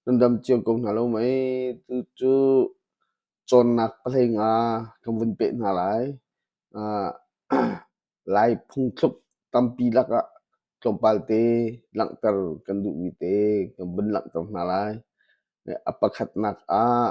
Kan dam cio ko hna lo mei. Tucu cawnnak pahleing ah kan vun peh hna lai. Lai phungthluk tampi lakah tlawmpal te langhter kan duhmi te kan vun langhter hna lai. A pakhatnak ah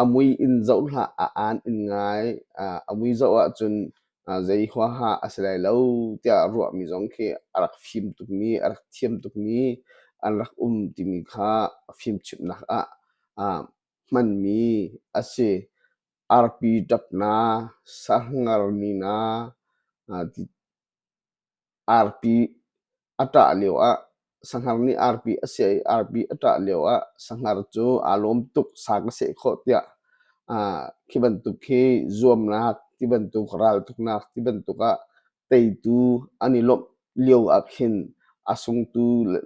A mui in zoh hlah, a aan in ngai. Aa a mui zoh ahcun aa zei huaha a si lai lo tiah ruahmi zong khi a rak fim tukmi, a rak thiam tukmi an rak um timi kha fimchimhnak ah aa hmanmi a si. Arpi ṭapna, sarhngarni na, aa ti. Arpi a ṭah lioah sahngar nih arpi a siah i arpi a ṭah lioah sahngar cu aa lawm tuk sang a seh khawh tiah aa khi bantuk hi zuamnak ti bantuk raltuknak ti bantuk ah teitu an i lawmh lio ahkhin a sungtu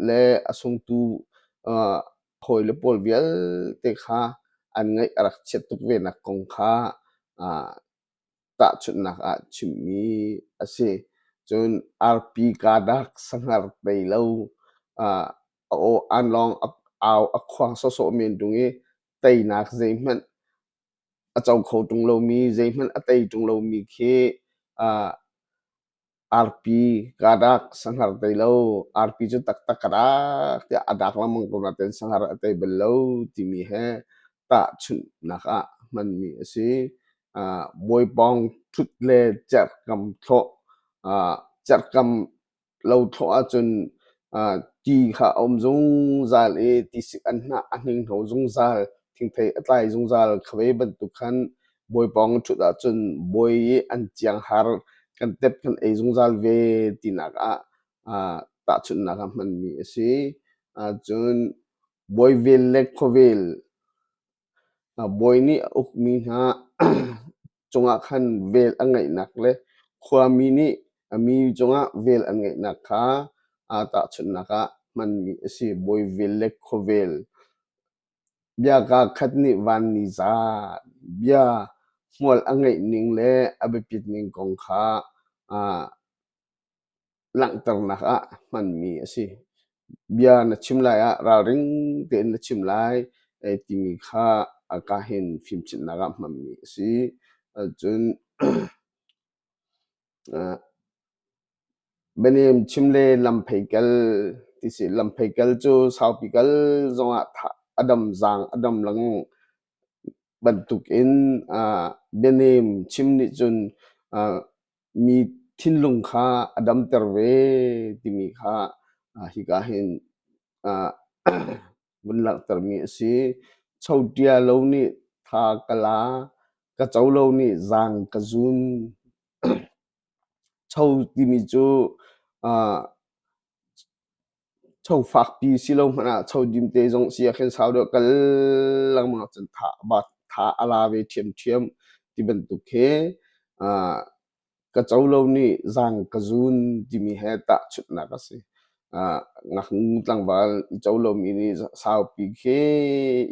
le a sungtu aa hawi le pawl vialte kha an ngaih a rak chiat tuk venak kong kha aa Tahchunhnak ah chimmi a si. Cun arpi kadak sangar tei lo uh, a aw an lawng a, au a khuang sawsawh men tung i teinak zeihmanh a co kho tung lomi zeihmanh a tei tung lomi khi uh, Arpi ka dak sanghar tei lo. Arpi cu taktak ka dak tiah a dak lengmang ko nain sanghar a tei bal lo timi he tahchunhnak ah hmanmi a si. Ah Bawipaung ṭhut le cerhkam thlawh. Ah cerhkam lo thlawh ahcun ah ti kha a um zungzal i tisik an hnah a hninghno zungzal. Thingthei a tlai zungzal. Kha ve bantuk khan Bawi pawng ṭhut ahcun bawi i an cianghar kan tep kan ei zungzal ve tinak ah uh, tahchunhnak ah hmanmi a si. Cun bawi vel le khuavel bawi nih a ukmi hna cungah khan vel a ngeihnak le khuami nih a mi cungah vel an ngeihnak kha aa tahchunhnak ah hmanmi a si. Bawi vel le khuavel Bia kaa khat nih vanni zaan bia hmual a ngeih ning le a biapit ning kong kha langhternak ah hmanmi a si. Bia na chim lai ah ralring tein na chim lai timi kha a ka hin fimchimhnak ah hmanmi a si. Cun Bianem chim le lamphei kal ti si. Lamphei kal cu saupi kal zongah a dam zaang a dam lang bantukin bianem chim nih cun mi thinlung kha a damter ve timi kha hika hin vun langhtermi a si. Chotiya lo nih tha ka la, ka co lo nih zang ka zun. Cho timi cu uh, cho fakpi si lo hmanh ah cho dim te zong si ah khin sau deuh kal lengmang cun tha, tha a la ve thiamthiam ti bantuk khi uh, ka co lo nih zang ka zun timi he tahchunhnak a si. Ah, ngaknu tlangval i co lomi nih saupi khi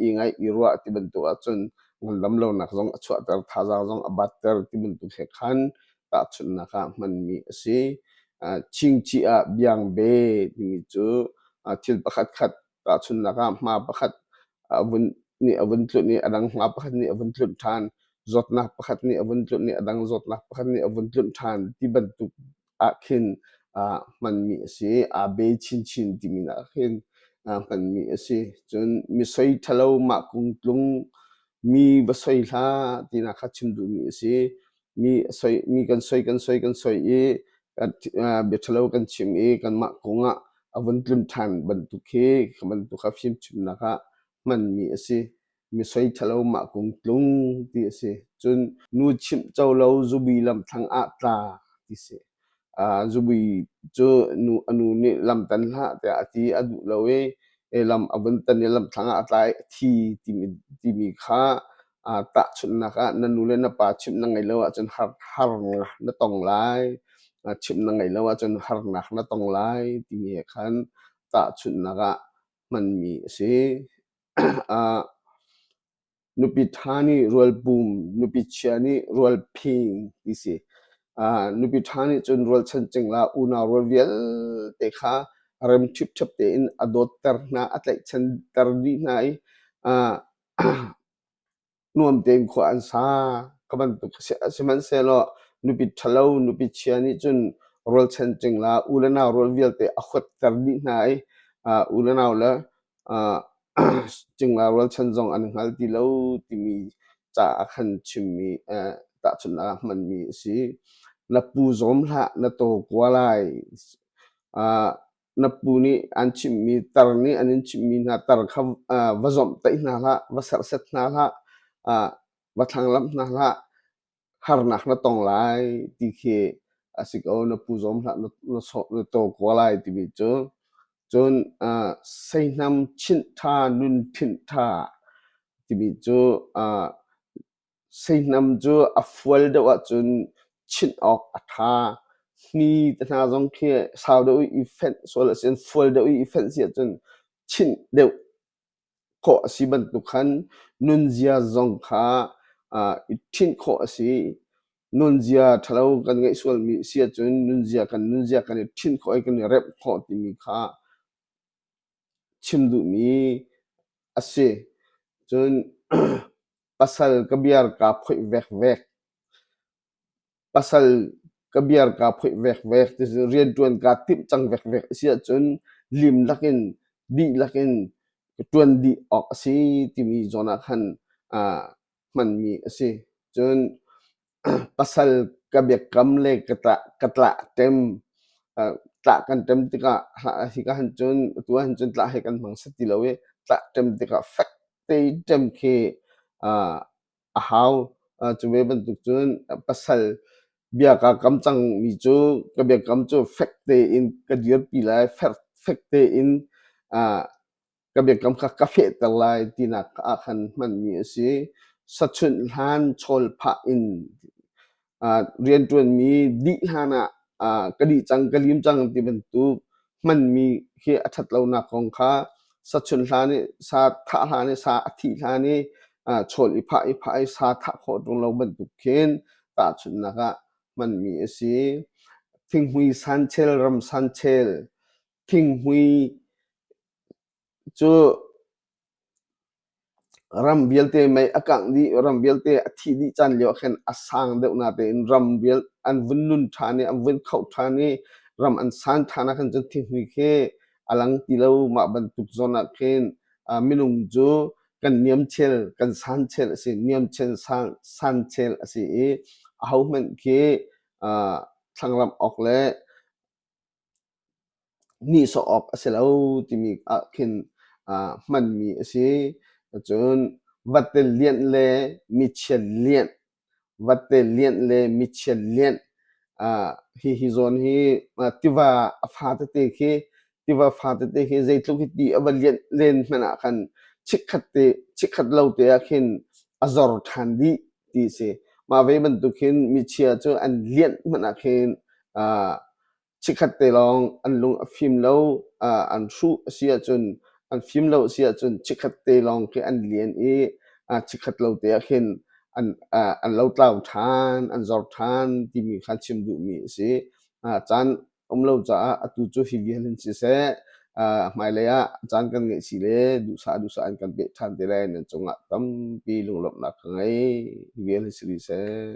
i ngaih i ruah ti bantuk ahcun ngandam lonak zong a chuahter, thazaang zong a batter ti bantuk he khan tahchunhnak ah hmanmi a si. Ah, chingchih ah biangbe timi cu ah thil pakhatkhat Tahchunhnak ah hma pakhat a vun nih a vun tlunh i a dang hma pakhat nih a vun tlunh ṭhan, zawtnak pakhat nih a vun tlunh i a dang zawtnak pakhat nih a vun tlunh ṭhan ti bantuk ah khin uh, hmanmi a si. Aa be chinchin timi nak ah khin uh, hmanmi a si. Cun misoi ṭhalo mah kung tlung mi va soi hlah tina kha chim duhmi a si. mi soi mi kan soi kan soi kan soi i biathalo kan chim i kanmah kong ah a vun tlim ṭhan bantuk hi kha bantuk a fimchimnak ah hmanmi a si mi soi ṭhalo mah kung tlung ti a si cun nu chimh co lo zubi lamthlang ah tla ti si Zubui cu a nu nih lam tan hlah tiah a ti. A duh lo i lam a vun tan i lamthlang ah a tlai. A thi timi kha tahchunhnak ah na nu le na pa chimh na ngeih lo ahcun harnak na tong lai. Chimh na ngeih lo ahcun harnak na tong lai timi he khan tahchunhnak ah hmanmi a si. nupi ṭha nih rualpum, nupi chia nih rualphing ti si. Uh, nupi ṭha nih cun rualchan cingla unau rual vialte kha rem ṭhipṭhep tein a dawtter hna, a tlaihchanter dih hna i uh, nuam tein khua an sa ka bantuk sihmanhsehlaw nupi ṭhalo, nupi chia nih cun rualchan cingla u le nau rual vialte a huatter dih hna i uh, u le nau le uh, cingla rualchan zong an hngal ti lo timi ca ah khan chimmi eh, tahchunhnak ah hmanmi a si. Na pu zawm hlah, na taw kua lai. Uh, na pu nih an chimmi tar nih an in chimmi hna tar kha uh, va zomh taih hna hlah, va serset hna hlah, uh, va thlanglamh hna hlah, harnak na tong lai ti khi a si ko na pu zawm hlah na to ko lai timi cu cun uh, seihnam chinh ṭha nun phinh ṭha timi cu uh, seihnam cu a fual deuh ahcun chinh awk a ṭha ni te hna zong khi sau deuh i fenh sual a si fual deuh i fenh si ahcun chinh deuh khawh a si bantuk khan nunzia zong kha i ṭhinh khawh a si. Nunzia ṭhalo kan ngeih sualmi a si ahcun nunzia kan nunzia kan i ṭhinh khawh i kan i remh khawh timi kha chim duhmi a si. Cun pasal ka biar kaa phoih vekvek. pasal ka biar kaa phoih vekvek ti si rianṭuan kaa timh cang vekvek a si ahcun lim lakin dihlak in ka ṭuan dih awk a si timi zawn ah khan aa hmanmi a si. Cun pasal ka biakam le ka tlah ka tlah tem aa tlah kan tem tikah hi ka han cun atu ah hin cun tlah hi kan hmang sa ti lo i tlah tem tikah fek tein tem khi aa a hau. Uh, cu ve bantuk cun pasal bia ka kam cang mi cu ka biakam cu fek tein ka dirpi lai, fer fek tein uh, ka biakam kha ka fehter lai tinak ah khan hmanmi a si. Sachunh hlan chawl phah in rianṭuanmi dih hlanah ka dih cang ka lim cang ti bantuk hmanmi hi a ṭhat lonak kong kha sa chun hlan i sa thah hlan i sa a thih hlan i chawl i phah i phah i sa thah khawh ṭung lo bantuk khin tahchunhnak ah hmanmi a si. Thinghmui sanchel, ram sanchel, thinghmui cu Ram vialte mei a kangh dih, ram vialte a thih dih caan lio ah khin a sang deuh na tein ram vial an vun nun ṭhan i, an vun khaoh ṭhan i, ram an san ṭhan ahkhin cun thinghmui khi a lang ti lo. Mah bantuk zawn ah khin ah minung cu kan niamchel, kan sanchel a si. Niamchel, san, sanchel a si i, ahohmanh khi ah thlangramh awk le nihsawh awk a si lo timi ah khin uh, hmanmi a si. Cun vatte lianh le michian lianh, vatte lianh le michian lianh uh, hi hi zawn hi uh, tiva a fa tete khi tiva fa tete khi zeitluk hi ti a va lianh len hmanh ah khan chikkhat te chikkhat lo te ah khin a zor ṭhan dih ti si. Mah ve bantuk hin michia cu an lianh hmanh ah khin uh, Chikkhat te lawng an lung a fim lo, an hruh a si ahcun, an fim lo a si ahcun chikkhat te lawng khi an lian i chikkhat lo te ah khin an lo tlau ṭhan, an zor ṭhan timi kha chim duhmi a si. Caan a um lo caah atu cu hi vial hin siseh, hmailei ah caan kan ngeih si le duhsah duhsah in kan peh ṭhan te lai nan cungah tampi lunglawmhnak ka ngei. Hi vial hi si rih seh.